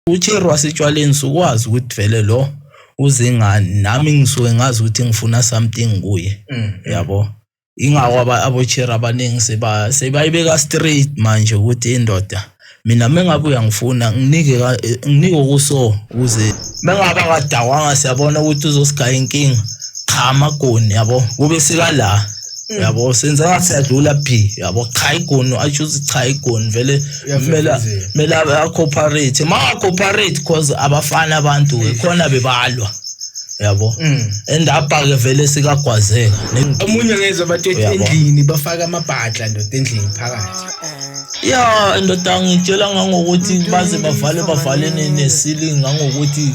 uCheri wasetshwaleni sukwazi ukuthi vele lo uze ngani nami ngisuke ngazi ukuthi ngifuna something kuye mm. yabo ingakho aboCheri abaningi seba sebayibeka straight manje ukuthi indoda mina mengabe uyangifuna nginike nginike okuso ukuze mengabe akadawanga siyabona ukuthi uzosigaya inkinga cha amagoni yabo kube sika la Mm. yabo senza ngathi siyadlula phi yabo cha igoni atsho ukuthi cha igoni vele kumele kumele acooperate mangacooperate cause abafana abantu ke khona bebalwa yabo Mm. and apha-ke vele sikagwazeka Ne- omunye ngezwa bathi Uyabo. endlini bafaka amabhadla ndoda endlini phakathi ya ndoda ngitshela ngangokuthi baze bavale bavale ne- ne-ceiling ngangokuthi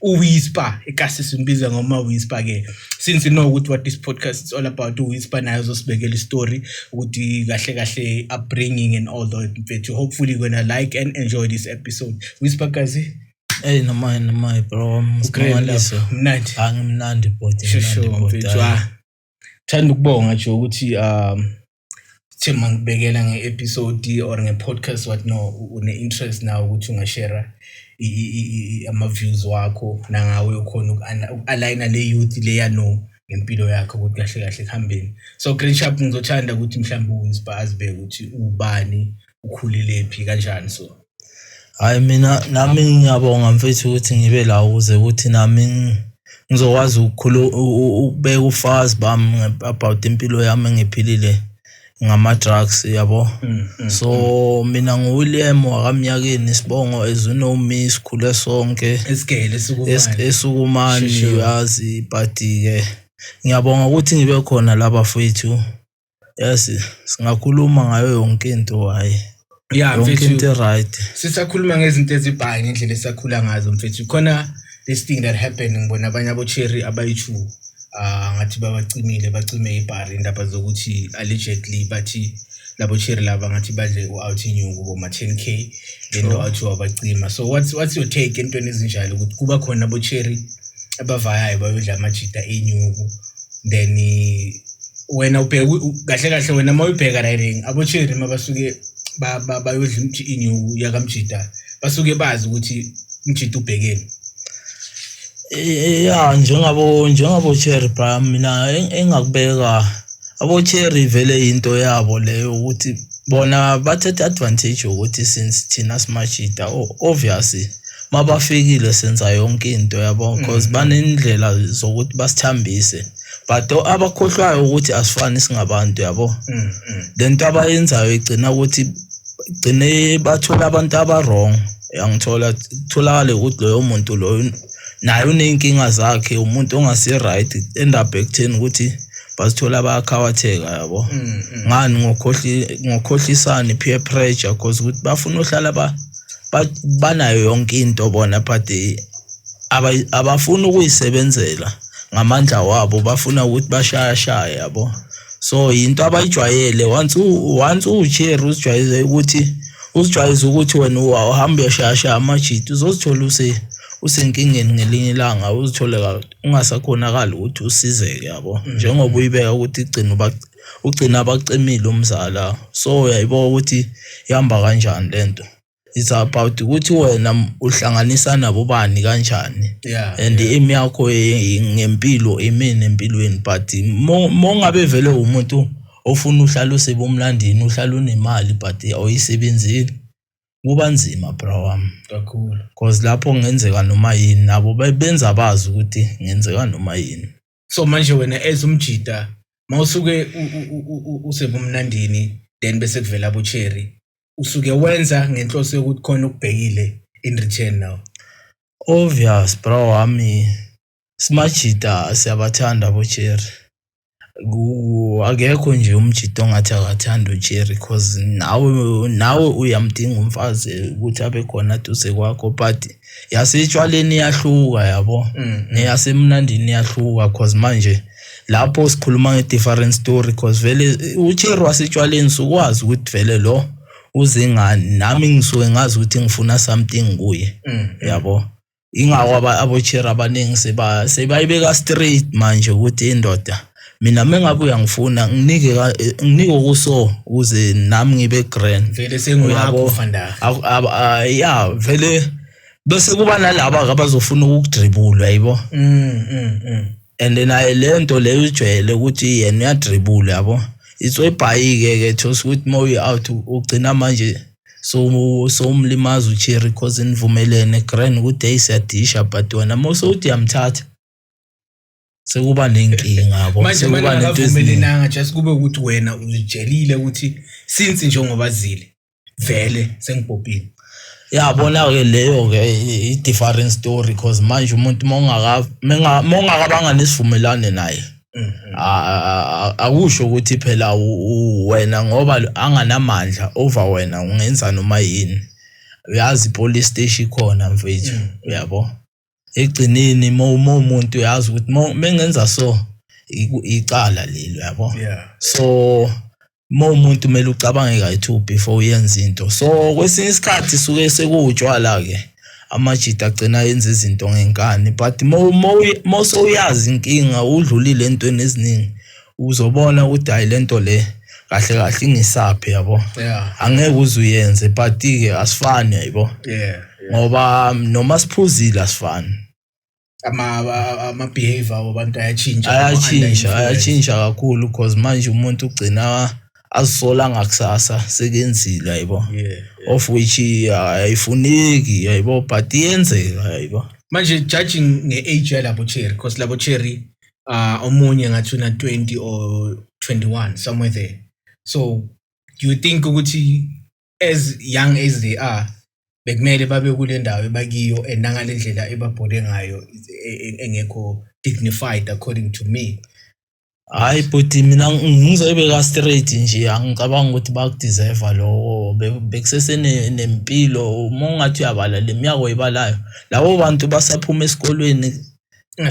uWhisper ekasisi mbiza ngoma Whisper ke since you know ukuthi what this podcast is all about uWhisper naye uzosibekela istory ukuthi kahle kahle upbringing and all that mfethu hopefully you're gonna like and enjoy this episode Whisper kazi Hey noma noma bro msibongalise mnandi angimnandi body mnandi body Thanda ukubonga nje ukuthi um sithe mangibekela nge-episode or nge-podcast what no une-interest nawo ukuthi ungashera ama-views wakho nangawe ukhona uku-aligna le youth leya no ngempilo yakho ukuthi kahle kahle kuhambeni so great shop ngizothanda ukuthi mhlawumbe u-inspire azibeke ukuthi ubani ukhulilephi kanjani so hhayi mina nami ngiyabonga mfethu ukuthi ngibe la ukuze ukuthi nami ngizokwazi ukubeka ufazi bami about impilo yami engiphilile ngama-drugs yabo mm, mm, so mm. mina nguwilliam wakamnyakeni isibongo as you know me sikhule sonke esukumani yazi but-ke ngiyabonga ukuthi ngibe khona laba fethu Yazi singakhuluma ngayo yonke into hhayi ya yonke into e-right sisakhuluma ngezinto ezibhayi ngendlela esakhula ngazo mfethu khona this thing that happened ngibona abanye abocherry abayi-two um ah, ngathi babacimile bacime ibhari indaba zokuthi allegedly bathi labo cherry laba ngathi badle u-out inyuku boma-ten k lento athi wabacima so what's, what's your take entweni ezinjalo ukuthi kuba khona abocherry abavayayo bayodla amajita enyuku then wena ubheka kahle kahle wena uma uyibheka riding abocheri uma basuke bayodla inyuku yakamjita basuke bazi ukuthi umjita ubhekeni ya njengabo njengabo cherry bra mina engakubeka abo cherry vele yinto yabo leyo ukuthi bona bathatha advantage ukuthi since thina simashida obviously mabafikile senza yonke into yabo because mm. banendlela zokuthi basithambise but abakhohlwayo ukuthi asifani singabantu yabo mm, mm. lento abayenzayo igcina ukuthi gcine bathola abantu abawrong yangithola kutholakale ukuthi loyo muntu loyo naye uney'nkinga zakhe umuntu ongasi-right end up ekutheni ukuthi bazithola bayakhawatheka yabo mm, mm. ngani ngokhohlisani peer pressure cause ukuthi bafuna uhlala banayo yonke into bona but eh, abafuni ukuyisebenzela ngamandla wabo bafuna ukuthi bashayashaye yabo so yinto abayijwayele once once uwucherry uzijwayeze ukuthi uzijwayeze ukuthi wena uhamba uyashayashaya amajiti uzozithola use usenkingeni ngelinye ilanga uzithole ungasakhonakali ukuthi usizeke yabo mm. njengoba uyibeka ukuthi igcina uba ugcina abaximile umzala so uyayibo ukuthi ihamba kanjani lento it's about ukuthi wena uhlanganisa nabo bani kanjani yeah, and yeah. imi yakho ngempilo imini empilweni but mongabe vele umuntu ofuna uhlala usebomlandini uhlala unemali but awuyisebenzeli kuba nzima bra wami kakhulu cause lapho kungenzeka noma yini nabo benza bazi ukuthi kungenzeka noma yini so manje wena as umjida mawusuke usebumnandini then bese kuvela abo cherry usuke wenza ngenhloso yokuthi khona ukubhekile in return now obvious bro wami simajida siyabathanda abo cherry akekho nje umjita ongathi akathanda uJerry cause nawe nawe uyamdinga umfazi ukuthi abe khona duze kwakho but yasetshwaleni iyahluka yabo mm, mm. neyasemnandini iyahluka cause manje lapho sikhuluma nge-different story cause vele ucheru wasetshwaleni sukwazi ukuthi vele lo uzingani nami ngisuke ngazi ukuthi ngifuna something kuye mm, yabo ingako abocheru abaningi sebayibeka straight manje ukuthi indoda mina mengabe uyangifuna nginike eh, nginike okuso ukuze nami ngibe grand vele sengiyakho fanda ya vele bese kuba nalabo abazofuna ukudribula yabo mm, mm, mm. and naye lento leyo ujwayele ukuthi yena uyadribula yabo itsoyibhayike ke thosa ukuthi uma uyi out ugcina manje so so umlimaza ucherry cause nivumelene grand ukuthi hey siyadisha but wena mose uthi yamthatha sekuba nenkinga yabo manje sekuba manje nento eziningi akavumelenanga just kube ukuthi wena uzijelile ukuthi since njengoba zile vele sengibhobhile yabona ke leyo ke i different story because manje umuntu mongaka mongakabanga nesivumelane naye Mhm. a- a- a- akusho ukuthi phela u- u- wena ngoba anganamandla over wena ungenza noma yini uyazi police station ikhona mfethu uyabo egcineni uma umuntu uyazi ukuthi mengenza so icala leli uyabo so uma umuntu kumele ucabange kayi-two before uyenza into so kwesinye isikhathi suke sekuwutshwala-ke amajita agcina yenza izinto ngenkani but uma sowuyazi inkinga udlulile entweni eziningi uzobona ukuthi hayi lento le kahle kahle ingisaphi yabo yeah. angeke uze uyenze but-ke asifani yabo yeah, yeah. ngoba noma siphuzile asifani ama-behavior ama wabantu ayatshintsha ayatshintsha ayatshintsha kakhulu because manje umuntu ugcina azisola ngakusasa sekenzile yabo yeah, yeah. of which ayifuneki uh, yabo but iyenzeka yabo manje judging nge-age yalabo cherry because labo cherry uh, omunye ngathi una 20 or 21 somewhere there so do you think ukuthi as young as they are bekumele babe kule ndawo ebakiyo and nangale ndlela ebabhole ngayo e, e, engekho dignified according to me hayi bhuti mina ngizoyibeka straight nje angicabangi ukuthi bakudeserve lowo bekusesenempilo uma ungathi uyabala le miyaka oyibalayo labo bantu basaphuma esikolweni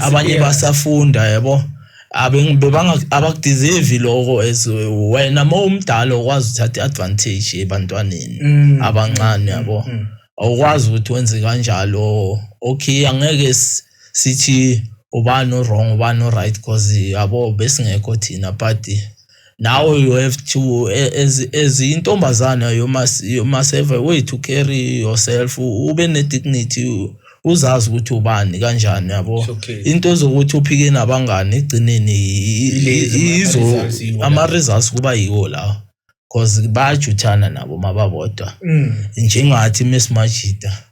abanye basafunda yabo abengibebanga abakudeserve lokho as wena uma umdala okwazi uthatha iadvantage ebantwaneni mm. abancane yabo mm, mm. awukwazi ukuthi wenze kanjalo okay angeke sithi ubani wrong ubani right because yabo besingekho thina but Now you have to as as intombazana you must you must have a way to carry yourself ube ne dignity uzazi ukuthi ubani kanjani yabo okay. into zokuthi uphike nabangani igcineni izo ama results kuba yiwo lawo cause bayajuthana nabo mababodwa mm. njengathi mesimajida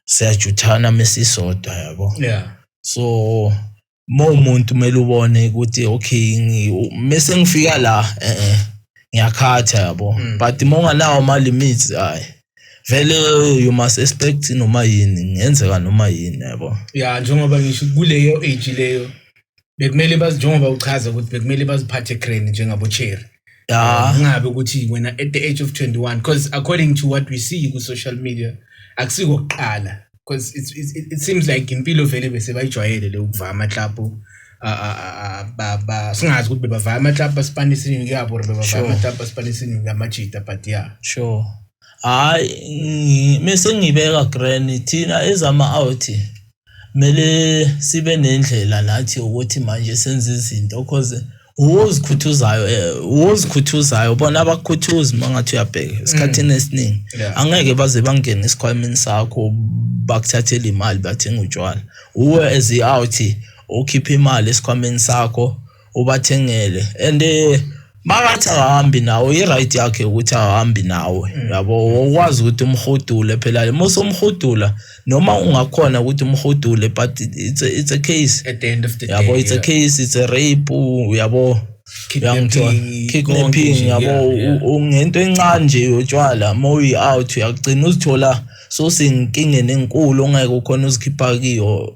siyajuthana mesisodwa yabo yeah so uma umuntu kumele ubone ukuthi okay mese ngifika la eh, eh ngiyakhatha yabo mm. but uma unganawo ama-limits hayi vele you must expect noma yini ngenzeka noma yini yabo ya njengoba ngisho kuleyo age leyo bekumele bazi njengoba uchaza ukuthi bekumele baziphathe grand njengabo-cherry yeah ngabe ukuthi wena at the age of 21 because according to what we see ku social media akusiko kuqala because it, it, it seems like impilo vele bese bayijwayele le ukuvaya amaklabhu singazi ukuthi bebavaya amaklabhu basipana isiningi kuyabo or bebavaya amaklabhu basipana isiningi kamajita but yeah sure hayi mese ngibeka granny thina ezama-out kumele sibe nendlela nathi ukuthi manje senze izinto cause uwozikhuthuzayo eh, uwozikhuthuzayo bona abakhuthuzi mangathi uyabheka mm. esikhathini esiningi angeke baze bangene esikhwameni sakho bakuthathela imali bathenga utshwala uwe as i-out ukhipha imali esikhwameni sakho ubathengele and eh, makathi akahambi nawe i-right yakhe ukuthi akahambi nawe mm. yabo wokwazi ukuthi umhudule phela uma usumhudula noma ungakhona ukuthi umhudule but it's a, it's a case at the end of the yabo day, it's yeah. a case it's a rape yabo kidnapping yabo ungento encane nje yotshwala uma uyi-out uyagcina uzithola sosenkingeni enkulu ongeke ukhona uzikhipha kiyo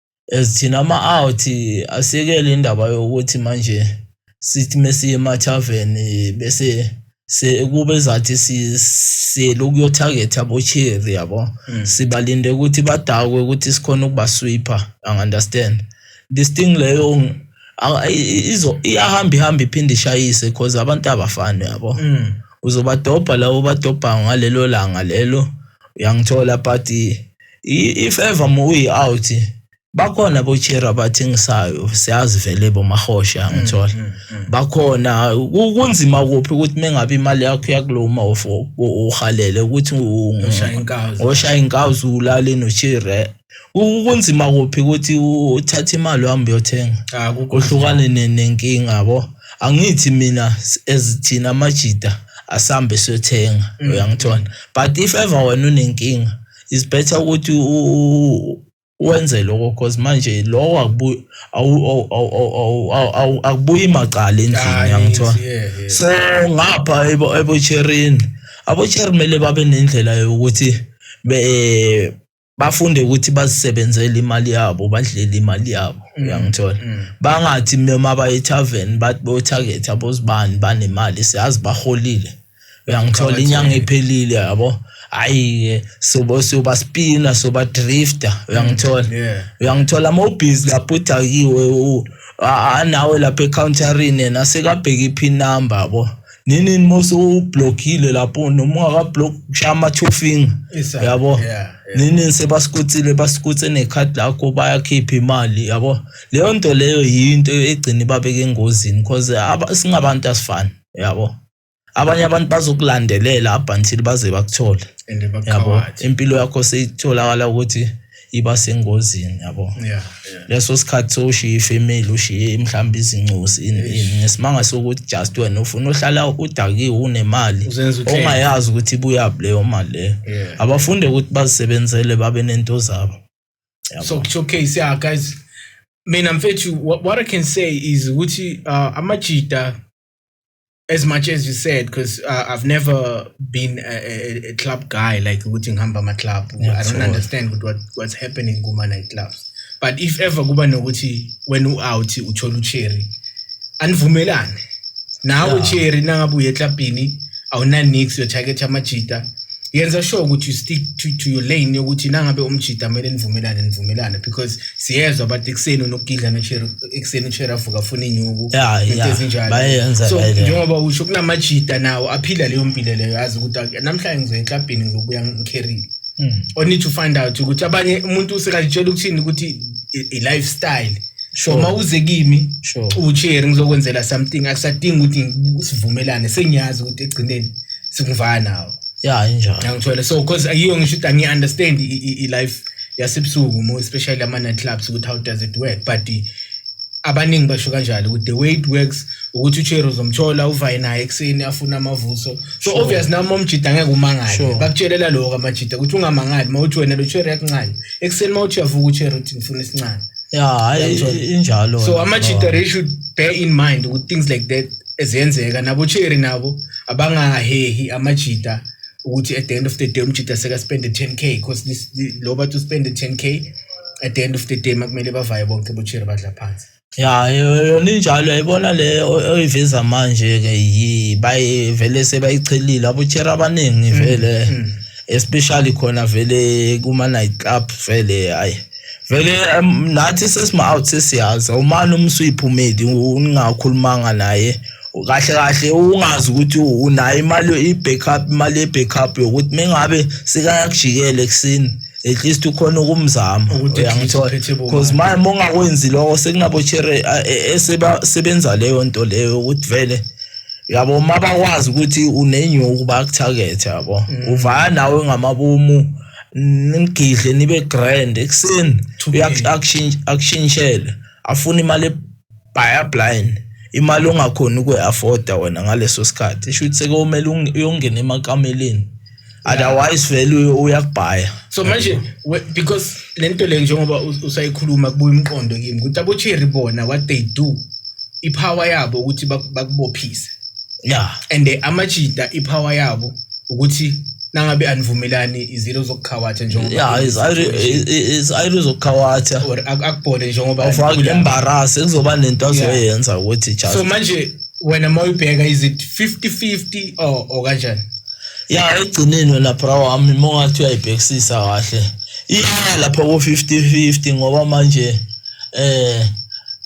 as thina ama-out asekele indaba yokuthi manje sithi mesiye emathavern bese kube zathi siyele ukuyothagetha abocheri yabo mm. sibalinde ukuthi badakwe ukuthi sikhona ukubaswipha angi-understand this thing leyo iyahamba ihamba iphinde ishayise because abantu abafani yabo mm. uzobadobha lawo badobha ngalelo langa lelo uyangithola but if ever uyi out bakhona bochera abathengisayo siyazi vele bomahosha mm, ngithola mm, mm. bakhona kunzima kuphi ukuthi mengabe imali yakho yakuloma of uhalele ukuthi ngoshaya inkazi ulale nochira kunzima kuphi ukuthi uthathe imali uhambe uyothenga ah, uhlukane nenkinga yabo angithi mina ezithina amajida asambe siyothenga uyangithola but if ever wena unenkinga is better ukuthi wenze lokho cause manje lokho akubuyi akubuyi macala endlini yangithiwa so ngapha ebocherini abocheri kumele babe nendlela yokuthi be bafunde ukuthi bazisebenzele imali yabo badlele imali yabo mm, uyangithola mm. bangathi noma baye tarven bathi bo target abozibani banemali siyazi baholile uyangithola inyanga iphelile yabo hayi soba soba spina soba drifter uyangithola uyangithola uma ubhizi lapho uthi akiwe anawe lapha ecounterini yena sekabheka i-pin number yabo nini uma usublockile lapho noma ungakablock kushaya ama-two finger yabo yeah. nini sebasikuthile basikuthe nekhadi lakho bayakhipha imali yabo leyo nto leyo yinto egcina ibabeka engozini because singabantu asifani yabo abanye abantu bazokulandelela up until baze bakuthole and yabo bakhawathi impilo yakho seyitholakala ukuthi iba sengozini yabo yeah yeah leso sikhathi sowushiye ifamily ushiye mhlawumbe izincosi ini ini ngesimanga sokuthi just wena ufuna uhlala udakiwe unemali Uzenza uthenge. ongayazi ukuthi ibuyaphi leyo mali leyo Yeah. abafunde ukuthi bazisebenzele babe nento zabo so to showcase yeah guys mina mfethu what, what i can say is ukuthi uh, amajita as much as you said because uh, i've never been a, a, a club guy like ukuthi ngihamba ama-club i don't understand what, what's happening kuma-night clubs but if ever kuba nokuthi wena u-out uthola ucherry anivumelane nawe yeah. ucherry nangabe uye eklabhini awunanix uyothaketha amajita yenza sure ukuthi you stick to, to your lane yokuthi nangabe umjita kumele nivumelane nivumelane because siyezwa abantu ekuseni unokugidla nocherry ekuseni kushere avuka afuna inyuku Ya, into ya. ezinjalo. Bayenza so like that. njengoba usho kunamajita nawo aphila leyo mpilo leyo yazi ukuthi ak- namhlanje ngizoya eklabhini ngizobuya ngikherile Hmm. or need to find out ukuthi abanye umuntu usekalitshela ukuthini ukuthi i- i-lifestyle so Sure. uma uze kimi Sure. ucheri ngizokwenzela something akusadingi ukuthi sivumelane sengiyazi ukuthi egcineni sikuvaya nawo ya injalo ngangithole so cause ayiyo ngisho ukuthi angi-understand i- i- i-life yasebusuku more especially ama-night clubs ukuthi how does it work but abaningi basho kanjalo ukuthi the way it works ukuthi ucheri uzomthola uvaye naye ekuseni afuna amavuso so sure. obvious nami omjida ngeke umangale sure. bakutshelela lokho amajida ukuthi ungamangali uma uthi wena lo cheri yakuncane ekuseni uma uthi uyavuka ucheri uthi ngifuna isincane ya injalo so amajida they should bear in mind ukuthi things like that ezenzeka nabo cheri nabo abangahehi amajida ukuthi at the end of the day umjita sekaspende 10k because this lo bathi uspende 10k at the end of the day makumele bavaye bonke botsheri badla phansi ya yona injalo yayibona le oyiveza manje ke yi bayivele sebayichelile abotsheri abaningi vele mm, mm. especially khona vele kuma night club vele hayi vele um, nathi sesima-out sesiyazi awumane uma usuyiphumeli ungakhulumanga naye kahle kahle ungazi ukuthi unayo imali i-backup imali ye-backup yokuthi mengabe sekayakujikela ekuseni at least ukhona ukumzama uyangithola because manje uma ungakwenzi lokho sekunabochere e, e, sebenza leyo nto leyo ukuthi vele yabo uma bakwazi ukuthi unenyuku bakuthakethe yabo mm. uvaya nawe ngamabomu mm. nimgidle nibe grand ekuseni akushintshele afuna imali ebhaya blind imali ongakhoni ukwe-afforda wena ngaleso sikhathi isho ukuthi sekomele uyongena emakameleni otherwise vele uyakubhaya so manje because le nto le njengoba usayikhuluma kubuya umqondo kimi ukuthi abocherry bona what they do iphawa yabo ukuthi bakubophise yeah and eh, amajita ipower yabo ukuthi nangabe anivumelani izilo zokukhawatha njengoba yeah is is ayilo zokukhawatha or akubhode njengoba ufake embarrass kuzoba nento azoyenza ukuthi just so manje wena mawubheka is it 50 50 or or kanjani ya egcineni wena bra wami mongathi uyayibhekisisa kahle iya lapho ko 50 50 ngoba manje eh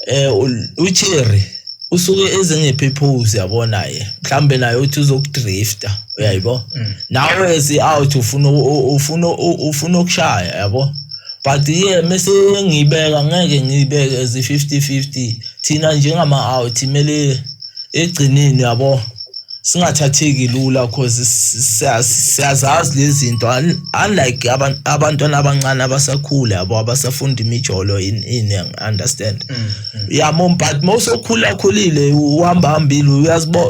eh ucherry usuke ezingiphi iphuzu yabo naye mhlawumbe naye uthi uzokudrifta uyayibo mm. nawe si out ufuna ufuna ufuna ukushaya yabo but ye mese ngibeka ngeke ngibeke ezi 50 50 thina njengama out imele egcineni yabo singathatheki lula cause siyazazi lezi zinto unlike abantwana abancane abasakhula yabo abasafunda imijolo ini understand mm, mm. yamo but mose okhula akhulile uhamba hambile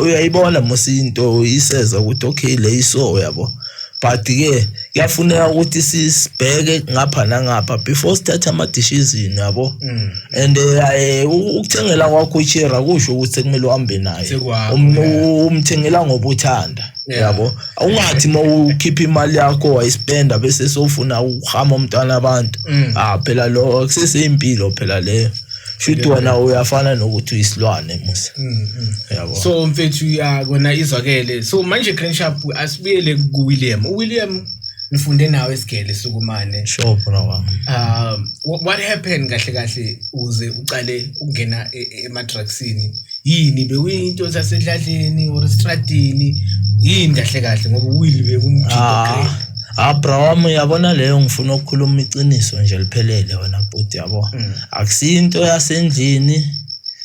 uyayibona mose into iseza ukuthi okay le iso yabo but ke kuyafuneka ukuthi sisibheke ngapha nangapha before sithathe ama-decision yabo mm. and eh, ukuthengela kwakho ichera kusho ukuthi sekumele uhambe naye um, umthengela ngoba uthanda yabo awungathi uma ukhipha imali yakho wayispenda bese sofuna ukuhama umntwana abantu mm. ah phela lo kusesey'impilo phela leyo shuthi wena uyafana nokuthi uyisilwane musa mm, mm. yabo so mfethu ya kona izwakele so manje green sharp asibuyele ku William u William ngifunde nawe isigele sukumane sure bro wami um what happened kahle kahle uze uqale ukungena e, e, ema drugsini yini bekuyinto sasedladleni or estradini yini kahle kahle ngoba uwili bekumjito ah, great Ah bro wami uyabona leyo ngifuna ukukhuluma iqiniso nje liphelele wena bhuti yabo. Mm. akusiyo into yasendlini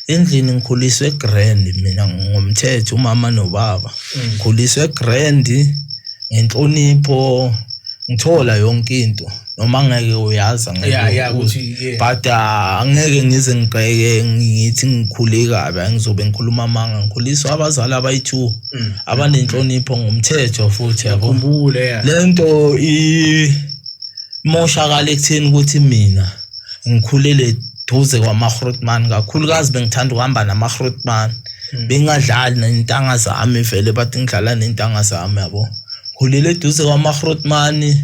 endlini ngikhuliswe grand mina ngomthetho umama nobaba mm. ngikhuliswe grand ngenhlonipho ngithola yonke into noma ngeke uyazi ngeke ukuthi but ah, angeke ngize ngigqeke ngithi ngikhule kabi angizobe ngikhuluma amanga ngikhuliswa abazali abayi-two mm. abanenhlonipho ngomthetho futhi yabo le nto imoshakala ekutheni ukuthi mina ngikhulele duze kwamahrotman kakhulukazi bengithanda ukuhamba namahrotman hmm. bengadlali nentanga zami vele bathi ngidlala nentanga zami yabo khulele duze kwamahrotman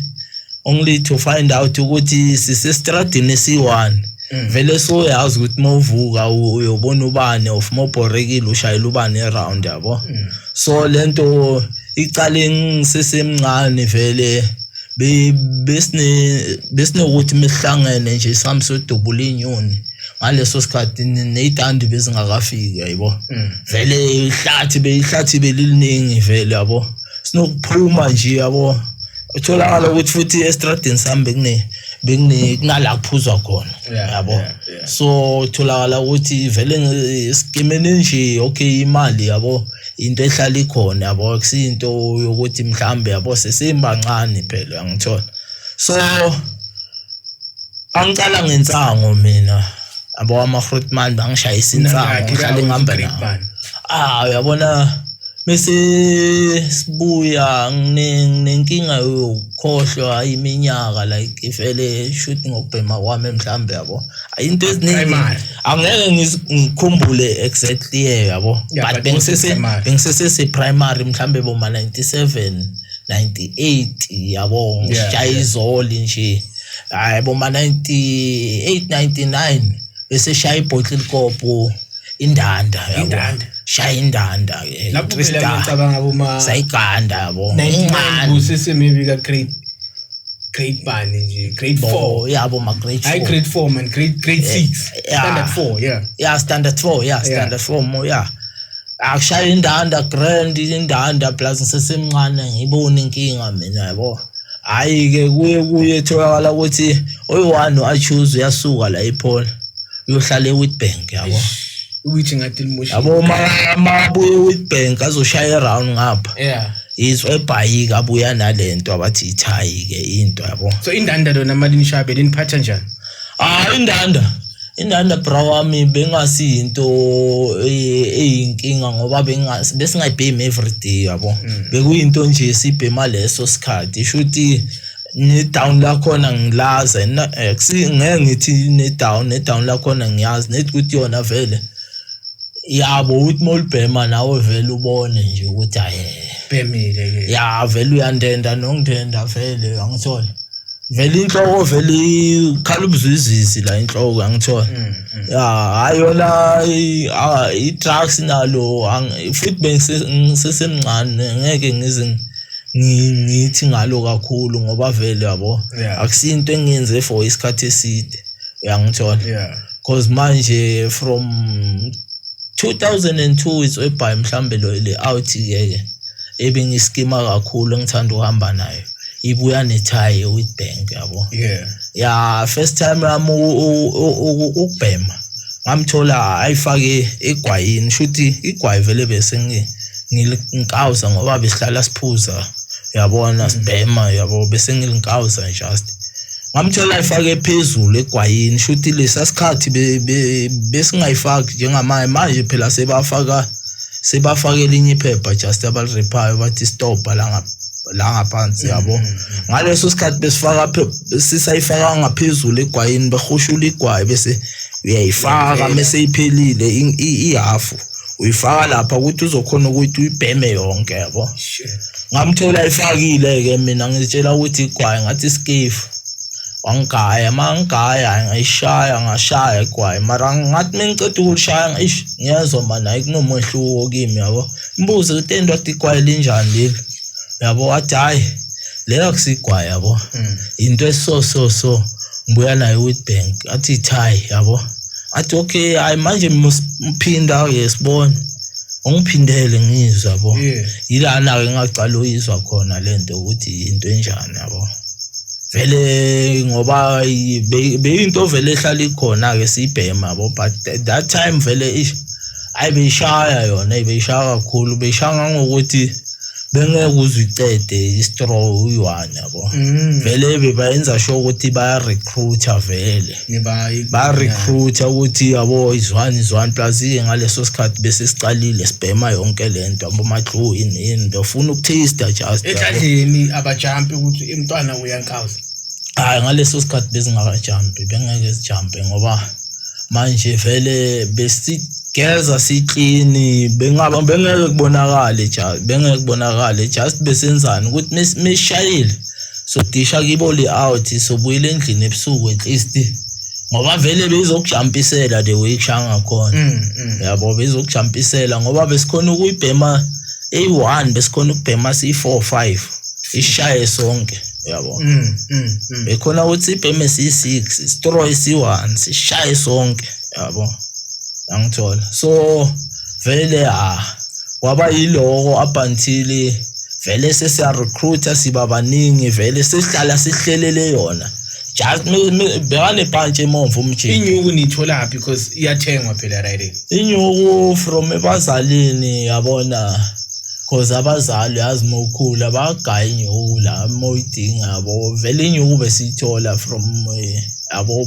only to find out ukuthi sisestradini esiyi-one hmm. vele soyazi ukuthi uma uvuka uyobona ubani of uma ubhorekile ushayela ubani eround yabo hmm. so le nto icale ngisesemncane vele besinokuthi mesihlangene nje sihambe sodubula iy'nyoni ngaleso sikhathi ney'tandi bezingakafiki yayibo hmm. vele ihlathi beyihlathi beliliningi vele yabo sinokuphuma nje yabo utholakala ukuthi futhi estradini sami bekune bekune kunala kuphuzwa khona yabo so utholakala ukuthi vele esikimeni nje okay imali yabo into ehlala ikhona yabo akusinto yokuthi mhlambe yabo sesimbancane phela uyangithola so angicala ngensango mina abo ama-fruitman bangishayisa insango ngihlale ngihamba nawo ah uyabona bese sibuya nginenkinga yokukhohlwa iminyaka like ifele shuthi ngokubhema kwami mhlawumbe yabo into eziningi angeke ngikhumbule exactly year yabo but bengisese bengisese se primary mhlambe bo 97 98 yabo ngishaya izoli nje hayi bo 98 99 bese shaya ibhottle kopo indanda indanda shaya indanda ke lapho ngicabanga boma sayiganda yabo incane usisi maybe ka grade grade bani nje grade 4 yeah abo ma grade 4 i grade 4 man grade grade 6 yeah. standard 4 yeah yeah standard 4 yeah standard 4 mo yeah akushaya indanda grand indanda plus ngisesemncane ngibone inkinga mina yabo hayi ke kuye kuye etholakala ukuthi oyi-one achuze uyasuka la ephone uyohlala ewitbank yabo ukuthi ngathi limushiyabo mabuye ewitbank azoshaya eround ngapha yeah Yiso ebhayika abuya nalento abathi ithayi ke into yabo. So indanda lona mali nishabe liniphatha njani? Ah indanda. Indanda bra wami bengasi into eh, eyinkinga ngoba bengasi besingayibhemi every day yabo. Mm. Bekuyinto nje sibhema leso sikhathi. Shuthi ne down la khona ngilaze eh, ngeke ngithi ne down ne down la khona ngiyazi nethi ukuthi yona vele yabo uthi molibhema nawe vele ubone nje ukuthi aye bhemile ke ya vele uyandenda nongidenda vele angithole vele inhloko vele ikhala ubuzwizizi la inhloko angithola mm, mm. ya hayi yona i-drugs nalo futhi bengisesemncane ngeke ngize ngithi ngalo kakhulu ngoba vele yabo akusinto engiyenze for isikhathi eside uyangithola yeah cause manje from 2002 is ebhayi mhlambe lo le out yeke ebingiskima kakhulu engithanda uhamba nayo ibuya nethayi with bank yabo yeah ya first time yami ukubhema ngamthola ayifake egwayini shuthi igwayi vele bese ngi ngilinkawuza ngoba besihlala siphuza yabona sibhema yabo bese ngilinkawuza just ngamthola efake phezulu egwayini shuthi lesa sikhathi besingayifaki njengamanje manje phela sebafaka sebafaka elinye iphepha just abalirephayo bathi stop la ngapha la ngaphansi yabo ngaleso sikhathi besifaka sisayifaka ngaphezulu egwayini behushula igwayi bese uyayifaka mese iphelile ihafu uyifaka lapha ukuthi uzokhona ukuthi uyibheme yonke yabo ngamthola ifakile-ke mina ngitshela ukuthi igwayi ngathi isikefu wangigaya uma ngigaya ngayishaya ngashaya igwayi mara ngathi uma ngiceda ukulishaya ngaish ngiyezwa mani hayi kunomehluko kimi yabo mbuze ukuthi endoda igwayi linjani leli yabo wathi hhayi leyo akusigwayi yabo hmm. yinto eso so so ngibuya nayo i-witbank athi ithayi yabo athi okay hayi manje mphinda awuye sibone ungiphindele ngizwa bo yilana ke ngaqala uyizwa khona lento ukuthi into enjani yabo vele ngoba beyinto vele ehlala ikhona ke sibhema bo but that time vele ish ayi beyishaya yona beyishaya kakhulu beyishaya ngokuthi bengeke uzicede istraw uyi-one yabo mm. vele bebayenza sure ukuthi baya-recruiter vele barecruita ukuthi yabo izwani izwani plus iye ngaleso sikhathi bese siqalile sibhema yonke le nto abomadlu yini yini befuna ukuthista just ekadleni abajampi ukuthi imntwana uyankawuza hayi ngaleso sikhathi bezingakajampi bengeke zijampe ngoba manje vele besigeza siklini bengaba bengeke kubonakale just bengeke kubonakale just besenzani ukuthi mishayile sodisha kibo le out sobuyela endlini ebusuku at least ngoba vele beyizokujampisela the way kushaya ngakhona mm, mm. yabo beyizokujampisela ngoba besikhona ukuyibhema eyi-one besikhona ukubhema siyi-four five ishaye sonke yabo mm, bekhona ukuthi ibheme siyi-six stroy siyi-one sishaye sonke yabo angithola so vele ah kwaba yiloko up until vele sesiya recruiter siba baningi vele sesihlala sihlelele yona just bekane punch emomvu umjini inyuku nithola phi because iyathengwa phela right inyuku from ebazalini yabona cause abazali yazi mokhula bagaya inyuku la moyidinga yabo vele inyuku besiyithola from eh, yabo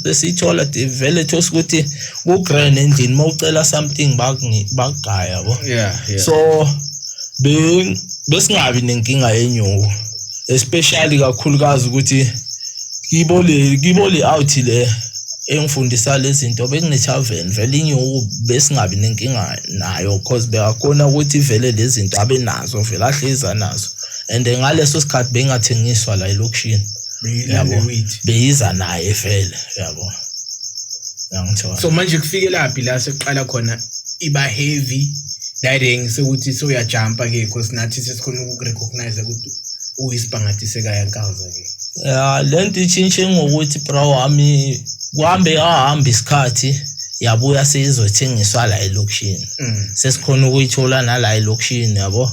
besiyithola vele thosa ukuthi ku grand endlini mawucela something bakungi bagaya yabo yeah, yeah. so be besingabi nenkinga yenyuko especially kakhulukazi ukuthi kibo le kibo le out le engifundisa lezinto bekunethaven vele inyuku besingabi nenkinga nayo because beyakhona ukuthi vele lezinto abe nazo vele ahleza nazo and ngaleso sikhathi bengathengiswa la elokishini yabo beyiza naye vele yabo yangithola so manje kufikelaphi la sekuqala khona iba heavy direng sekuthi soyajumpa ke because nathi sesikhona ukukurecognize ukuthi uyisibhangathi sekaya nkawuza ke ya le nto itshintshe ngokuthi bra wami kuhambe ahamba isikhathi yabuya seyizothengiswa la elokishini mm. sesikhona ukuyithola nala elokishini yabo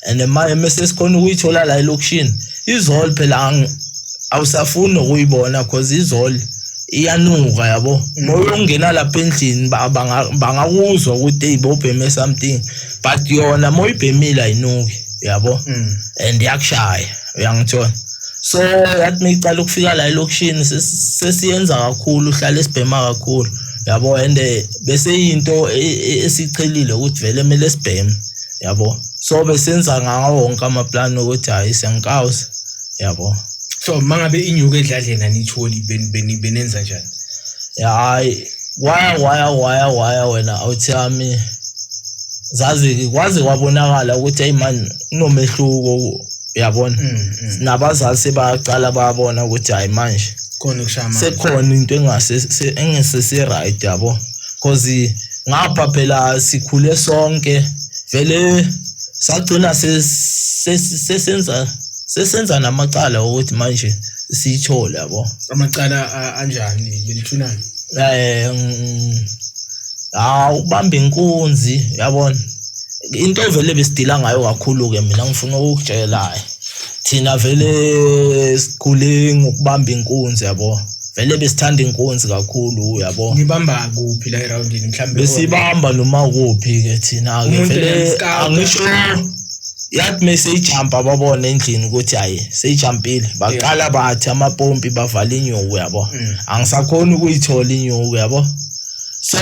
and manje mesesikhona ukuyithola la elokishini izol phela awusafuni nokuyibona cause izol iyanuka yabo moya ongena lapha endlini bangakuzwa ukuthi eyi bobheme something but yona moya ibhemile ayinuki yabo mm. and iyakushaya uyangithola so yathi micala ukufika la elokishini sesiyenza kakhulu uhlala esibhema kakhulu yabo and eh, bese yinto e, e, esichelile ukuthi vele kumele sibheme yabo so besenza ngawo wonke amaplani ukuthi hhayi siyangikawuza yabo so mangabe inyuke edladleni anitholi benenza njani hayi waya waya waya waya wena awuthi yami zazi kwaze kwabonakala ukuthi hey man kunomehluko uyabona mm, mm. nabazali sebaqala babona ukuthi hayi manje khona ukushaya manje sekhona into engase engese si right yabo because ngapha phela sikhule sonke vele sagcina sesenza sesenza namacala ukuthi manje siyithole yabo amacala anjani lelithunani eh hawu ubamba inkunzi yabona into evele besidila ngayo kakhulu ke mina ngifuna ukutshela thina vele sikhule ngokubamba inkunzi yabo vele besithanda inkunzi kakhulu yabo ngibamba kuphi la eroundini mhlambe besibamba noma kuphi ke thina ke vele angisho yathi mese ijump ababona endlini ukuthi hayi seyijumpile baqala bathi amapompi bavala inyuku yabo mm. angisakhona ukuyithola inyuku yabo so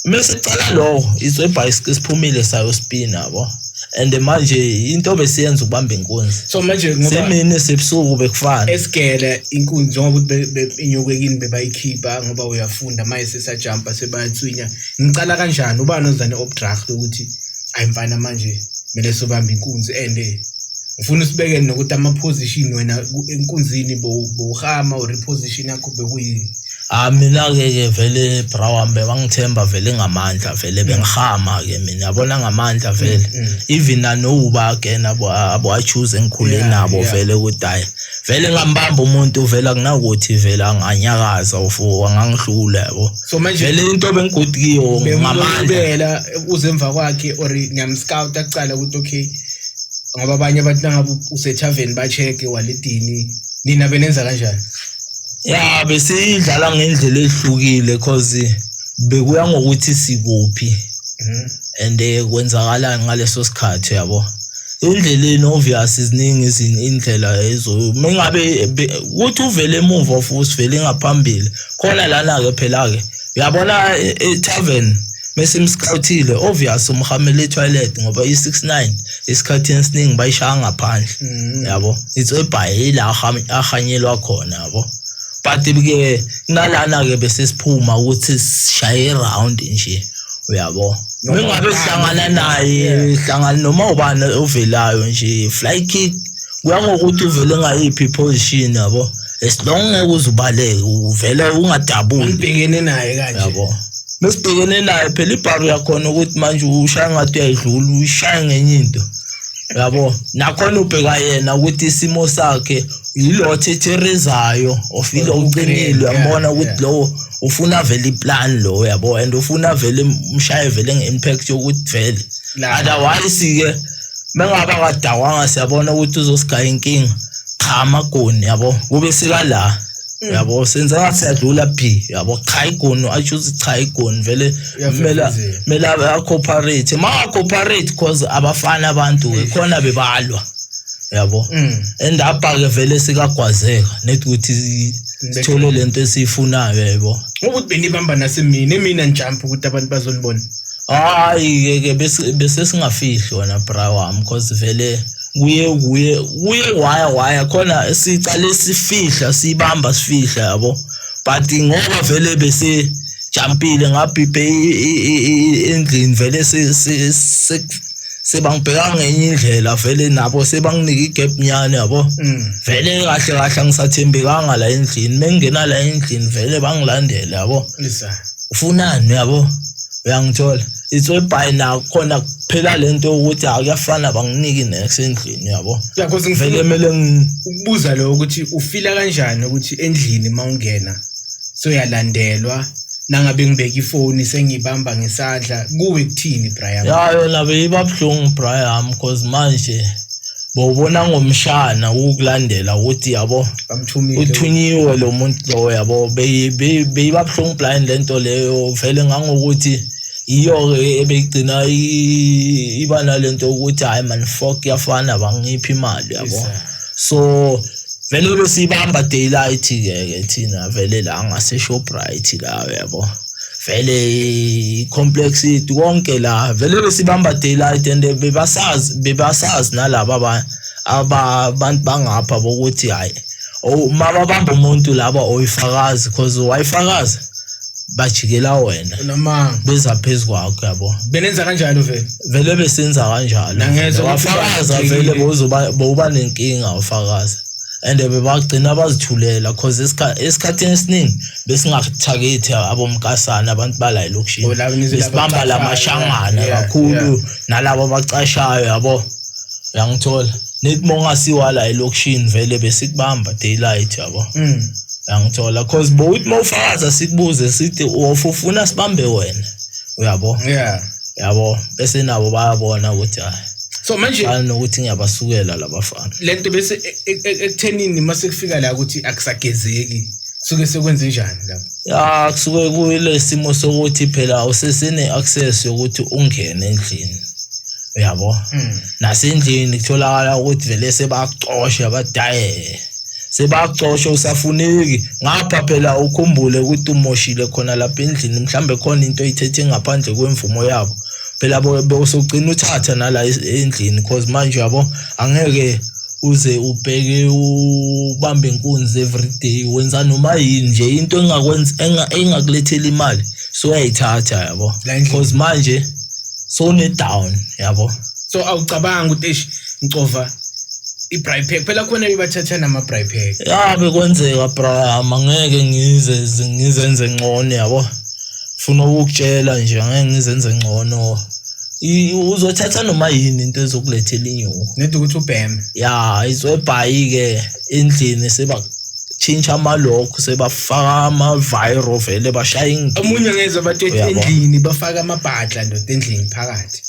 mese cala lowo izwe bicycle siphumile sayo spin yabo and manje into besiyenza ukubamba inkunzi so manje ngoba semini sebusuku bekufana esigele inkunzi njengoba ukuthi inyokekini bebayikhipha ngoba uyafunda manje sesajumpa sebayathwinya ngicala kanjani ubani ozane obdraft ukuthi Hayi mfana manje kumele sobambe inkunzi and ngifuna usibekele nokuthi ama-position wena enkunzini bowuhama or i-position yakho bekuyini Ah mina-ke ke vele brawambe bangithemba vele ngamandla vele bengihama-ke mina yabona ngamandla vele mm, mm. even nanowuba again abo-achoose engikhule nabo vele ukuthi hhayi vele ngambamba umuntu vele akunakuthi vele anganyakaza or angangihlula yabo so manje vele into bengigodi kiyo ngamandla uze emva kwakhe or ngiyamscout akucala ukuthi okay ngoba abanye abantu nangabe usethavern ba-check-e walidini nina benenza kanjani ya besiyidlala ngendlela ehlukile cause bekuya ngokuthi sikuphi mhm. and eh, kwenzakalani ngaleso sikhathi yabo endleleni obvious ziningi izini indlela ezo mengabe ukuthi uvele emuva futhi vele ngaphambili khona lana ke phela ke uyabona i-tavern e, mesimscoutile obvious umhamele etoilet ngoba i-69 isikhathini esiningi bayishaya ngaphandle mm. yabo it's ebhaye yila ahanyelwa khona yabo but ke nalana ke bese siphuma ukuthi sishaye round nje uyabo ngingabe sihlangana naye hlangana noma ubani ovelayo nje fly kick kuya ngokuthi uvele ngayiphi position yabo as long ngeke uzubaleke uvele ungadabuli ulibhekene naye kanje yabo mesibhekene naye phela ibharu yakhona ukuthi manje ushaya ngathi uyayidlula uyishaya ngenye into yabo nakhona ubheka yena ukuthi isimo sakhe yilo thetherezayo of ilo uqinile uyambona ukuthi lowo ufuna vele iplan lo yabo and ufuna vele umshaye vele nge-impact yokuthi vele otherwise-ke mengabe akadawanga siyabona ukuthi uzosigaya inkinga cha amagoni yabo kube sika la Mm. yabo senze ngathi siyadlula phi yabo cha igoni asho ukuthi cha igoni vele kumele kumele acooperate ma-cooperate cause abafani abantu-ke khona bebalwa yabo mm. and apha-ke vele sikagwazeka nethi ukuthi sithole le nto esiyifunayo yabo ukuthi benibamba nasemina emina njampa ukuthi abantu bazonibona Hayi-ke ke bese bese singafihli wena bra wami cause vele kuye kuye kuye waya waya khona sicale sifihla sibamba sifihla yabo but ngoba vele bese jampile ngabhibhe endlini vele sebangibheka ngenye indlela vele nabo sebanginika igap nyane yabo mm. vele kahle kahle angisathembekanga la endlini mengingena la endlini vele bangilandele yabo ufunani uyabo uyangithola it's all by now khona kuphela lento ukuthi akuyafana banginiki next endlini uyabo yakhoze ngivele kumele ukubuza lo ukuthi ufila kanjani ukuthi endlini mawungena so yalandelwa nangabe ngibeka ifoni sengibamba ngesandla kuwe kuthini Brian ya yona beyibabuhlungu Brian because manje Bawubona ngomshana ukulandela ukuthi yabo uthunyiwe lo muntu lo yabo beyibabuhlungu blind lento leyo vele ngangokuthi iyo-ke ebeyigcina iba nalento yokuthi hhayi man fok yafana bangiphi imali yabo so vele besiyibamba daylight-ke ke thina vele la ngaseshoprite la yabo vele complex yethu konke la vele besibamba daylight and bebasazi bebasazi nalabo abanye abantu bangapha bokuthi hayi uma babamba umuntu laba oyifakazi because wayifakazi bajikela wena namanga beza phezu kwakho yabo benenza kanjalo vele vele besenza kanjalo wafakaza vele bozoba boba nenkinga ufakaza and bebagcina bazithulela cause esikhathini esiningi besingathakethi abomkasana abantu bala elokishini Oh, laba nizwe besibamba la labacashayo, mashangana yeah, yeah. kakhulu nalabo abacashayo yabo uyangithola nithi uma ungasiwa la elokishini vele besikubamba daylight yabo Mm. uyangithola cause bowuthi uma ufakaza sikubuze sithi "Wofa, ufuna sibambe wena uyabo Yeah. yabo bese nabo bayabona ukuthi hayi so manje fana nokuthi ngiyabasukela labafana lento bese e, e, e, ekuthenini mase kufika la ukuthi akusagezeki kusuke sekwenze njani lapho ya kusuke kuyilesimo sokuthi phela usesine access yokuthi ungene endlini uyabo hmm. nasendlini kutholakala ukuthi vele sebakucosha badayele sebaxoshwa usafuneki ngapha phela ukhumbule ukuthi umoshile khona lapha endlini mhlambe khona into oyithethe ngaphandle kwemvumo yabo phela bosogcina uthatha nala endlini cause manje yabo angeke uze ubheke ubambe inkunzi everyday wenza noma yini nje into engakwenza engakulethela imali so uyayithatha yabo because manje so ne down yabo so awucabanga ukuthi eish ngicova i-bribe pack phela khona bebathatha nama-bribe pack ya bekwenzeka brahama ngeke ngize ngizenze ngcono yabo funa ukukutshela nje angeke ngizenze ngcono uzothatha noma yini into ezokulethela inyuko nedi ukuthi ubheme ya izwebhayi-ke endlini seba tshintsha amalokhu sebafaka ama-viro vele bashaya ingidi omunye ngezwa bathi ethi Uyabo. endlini bafake amabhadla ndoda endlini phakathi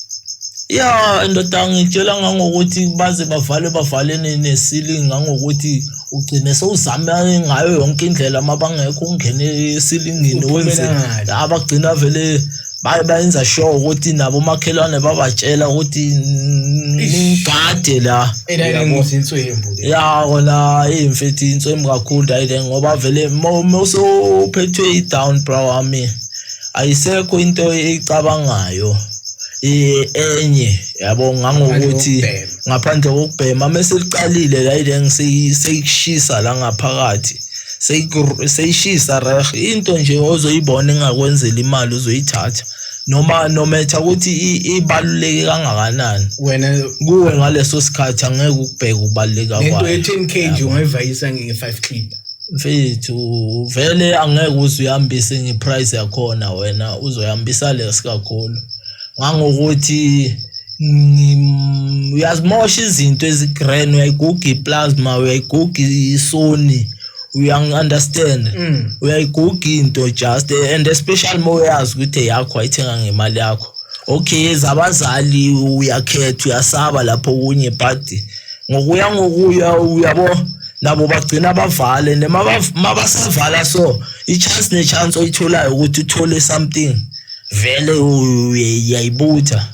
ya ndoda ngitshela ngangokuthi baze bavale bavale ne- ne-ceiling ngangokuthi ugcine sewuzame ngayo yonke indlela uma bangekho ungene esilingini Uphumela wenze ngale. abagcina vele baye bayenza sure ukuthi nabo makhelwane babatshela ukuthi ningade la ya kona imfethi inswembu kakhulu ayike ngoba vele mawusophethwe i-down bro wami ayisekho into eyicabangayo enye yabo ngangokuthi ngaphandle kokubhema mese liqalile la ile ngiseyikushisa la ngaphakathi seyishisa reh into nje ozoyibona engakwenzela imali uzoyithatha noma nometha ukuthi ibaluleke kangakanani wena kuwe ngaleso sikhathi angeke ukubheka ubaluleka kwayo into ethi 10 kg ungayivayisa nge 5 clip mfethu vele angeke uze uyambise ngeprice yakhona wena uzoyambisa lesi kakhulu ngangokuthi Mm, uyazimosha izinto ezigren uyayiguga iplasma uyayiguga isoni uyangi-understand mm. uyayiguga into just and especially uma uyazi ukuthi eyakho ayithenga ngemali yakho okay ezabazali uyakhetha uyasaba lapho kunye but ngokuya ngokuya uyabo nabo bagcina bavale mabasavala so i-chance ne-chance oyitholayo ukuthi uthole something vele uyayibutha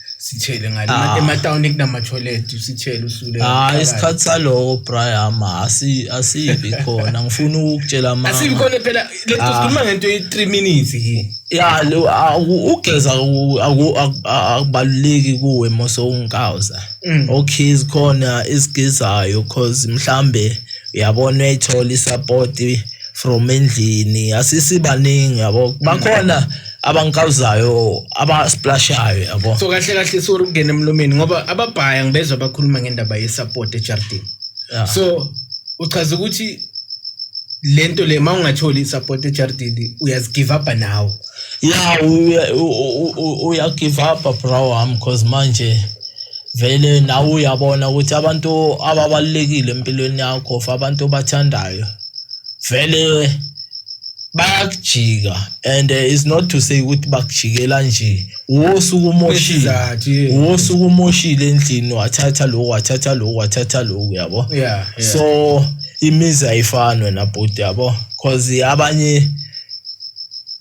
sithele ngale Ah. ematawuni kunama-toilet usithele usule hayi isikhathi saloko brahama asi- asibi khona ngifuna ukukutshela mama asikhona phela lento Ah. sikhuluma ngento ye-three minutes ke ya lo- aku- ugeza aku- aku- aku- akubaluleki kuwe mosowungikawuza Mm. okay zikhona ezigezayo cause mhlambe uyabona uyayithola isapoti from endlini asisibaningi yabo bakhona abangikawuzayo abasiplashayo yabo so kahle kahle sori ukungena emlomeni ngoba ababhaya ngibezwa bakhuluma ngendaba yesupport ejardini yeah. so uchaza ukuthi lento le mawungatholi isupport ejardini uyazigive up nawo yeah uya give up bro wami because manje vele nawe uyabona ukuthi abantu ababalekile empilweni yakho for abantu obathandayo vele bayakujika and uh, it's not to say ukuthi bakujikela nje wosuku umoshile Isizathu, yeah. wosuku umoshile endlini wathatha lokhu wathatha lokhu wathatha lokhu yabo Yeah, yeah. so imizi ayifani wena bhuti yabo cause abanye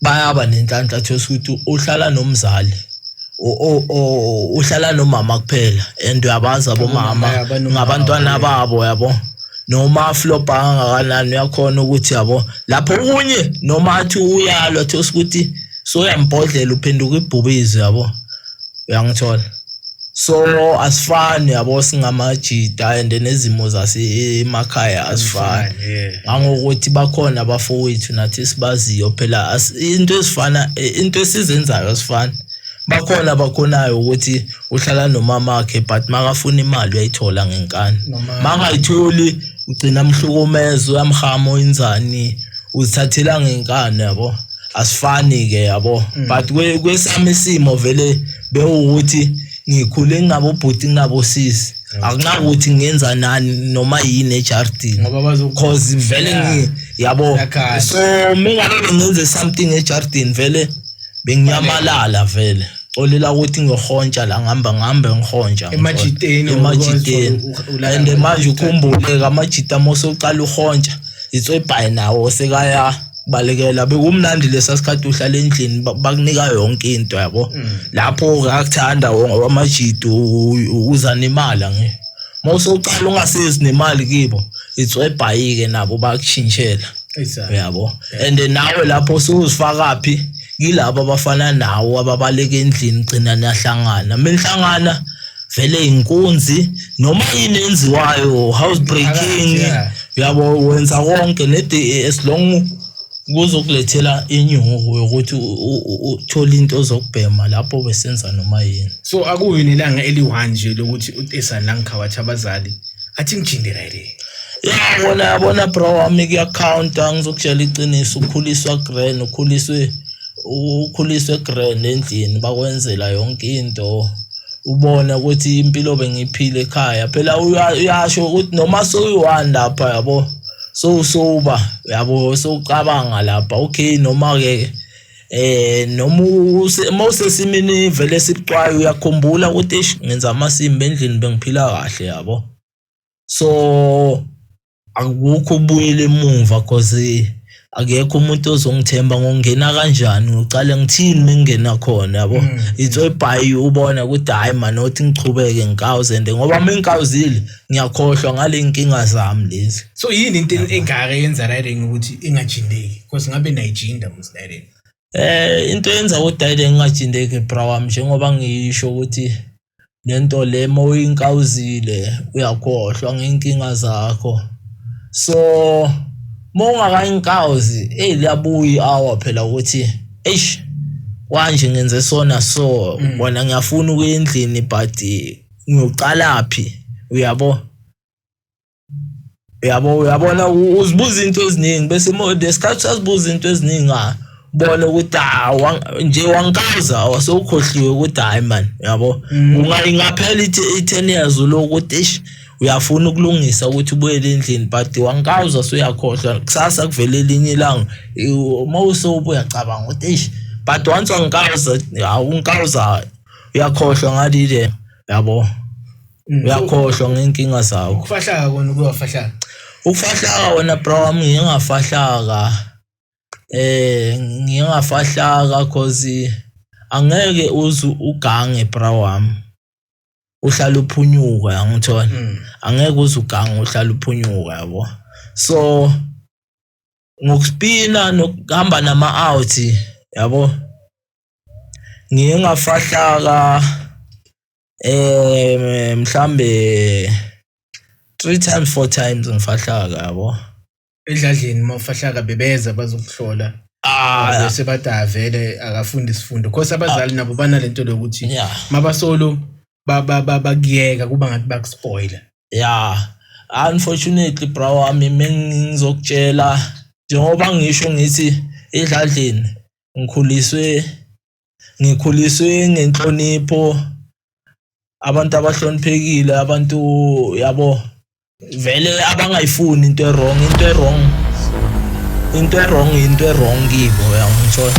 bayaba nenhlanhla thosa ukuthi uhlala nomzali o- o- o- uhlala nomama kuphela and uyabazi Abomama, abomama yeah, banomama, ngabantwana yeah. babo yabo noma aflobhanga kangakanani uyakhona ukuthi yabo lapho okunye noma athi uyalwa athi usikuthi soyambhodlela uphenduka ibhubizi yabo uyangithola so asifani yabo singamajida and nezimo zasemakhaya asifani ngangokuthi bakhona abafowethu nathi sibaziyo phela into ezifana into esizenzayo asifani bakhona abakhonayo ukuthi uhlala nomamakhe but makafuna imali uyayithola ngenkani makayitholi ugcina mhlukumeza uyamhama oyinzani uzithathela ngenkani yabo asifani ke yabo mm. but kwesami isimo vele bewukuthi ngikhule ngabo bhuti ngabo sisi akunakuthi ngenza nani noma yini ejardini because vele yabo so mingabe ngenze something ejardini vele bengiyamalala vele xolela ukuthi ngihontsha la ngihamba ngihambe ngihontsha Emajiteni, emajiteni ukwazi u- ulala and ngayo. manje ukhumbuleke amajita uma usuqala uhontsha itswebhayi nawo sekaya balekela bekumnandi lesa sikhathi uhlala endlini ba- bakunika yonke into yabo lapho kakuthanda wonke amajita uza nemali nge uma usuqala ungasezi nemali kibo itswebhayi-ke nabo bakushintshela Exactly. uyabo and nawe lapho suzifakaphi yilabo abafana nawo ababaleka endlini gcina niyahlangana menihlangana vele inkunzi noma yini enziwayo house breaking yabo wenza konke nede as long kuzokulethela inyuko yokuthi uthole into zokubhema lapho besenza noma yini so akuyini ilanga eliwanje lokuthi utesa la ngikhawathi abazali athi ngijinde right ya bona yabona bro wami kuyakhawunta ngizokutshela iqiniso ukhuliswa grand ukhuliswe ukhuliswe grand endlini bakwenzela yonke into ubona ukuthi impilo bengiphile ekhaya phela uyasho ukuthi noma soyi-one lapha yabo sowusoba yabo sowucabanga lapha okay noma-ke eh noma uma usesimini vele esibucwayo uyakhumbula ukuthi eish ngenza amasimba endlini bengiphila kahle yabo so akukho ubuyele emuva cause akekho umuntu ozongithemba ngongena kanjani ngiqale ngithini mengena khona yabo mm. it's a buy ubona ukuthi hayi man othi ngichubeke ngikawuzende ngoba mengikawuzile ngiyakhohlwa ngale inkinga zami lezi so yini into engaka yenza riding ukuthi ingajindeki because ngabe nayijinda Dayden. Eh into yenza ukuthi Dayden ngingajindeki bra wami njengoba ngisho ukuthi lento le mawuyinkawuzile uyakhohlwa ngenkinga zakho. So mawungakayinkawuzi hey liyabuya awa phela ukuthi eish kwanje ngenze sona so mm. bona ngiyafuna ukuyendlini but ngiyocalaphi uyabo yabo uyabona uzibuza into eziningi bese lesikhathi usazibuza into eziningi ah, bona ukuthi ah, nje wangikaza awasewukhohliwe ukuthi hayi mani yabo mm. ungalingaphela i-ten years uloku ukuthi eish uyafuna ukulungisa ukuthi ubuyele endlini but wangikawuza suyakhohlwa kusasa kuvele elinye ilanga uma usobe uyacabanga ukuthi eish but once wangikawuza awungikawuza uyakhohlwa ngalile yabo Mm. uyakhohlwa ngeenkinga zakho ukufahlaka kona kuyofahlaka ukufahlaka wena bro wami ngiye ngafahlaka eh ngiye ngafahlaka cause angeke uze ugange bro wami uhlala uphunyuka yangithola Mm. angeke uze ugange uhlala uphunyuka yabo so ngokuspina nokuhamba nama-out yabo ngiye ngafahlaka Eh mhlambe 3 times 4 times ngifahlaka yabo. Edladleni uma ufahlaka bebeza bazokuhlola. Ah, bese bathi avele akafundi isifundo. Khosi abazali ah. nabo banalento lokuthi mabasolo bakuyeka kuba ngathi bakuspoiler. Yeah. Unfortunately bro wami mengizokutshela njengoba ngisho ngithi edladleni ngikhuliswe ngikhuliswe ngenhlonipho abantu abahloniphekile abantu yabo vele abangayifuni into ewrong into ewrong into ewrong into ewrong kibo uyangithola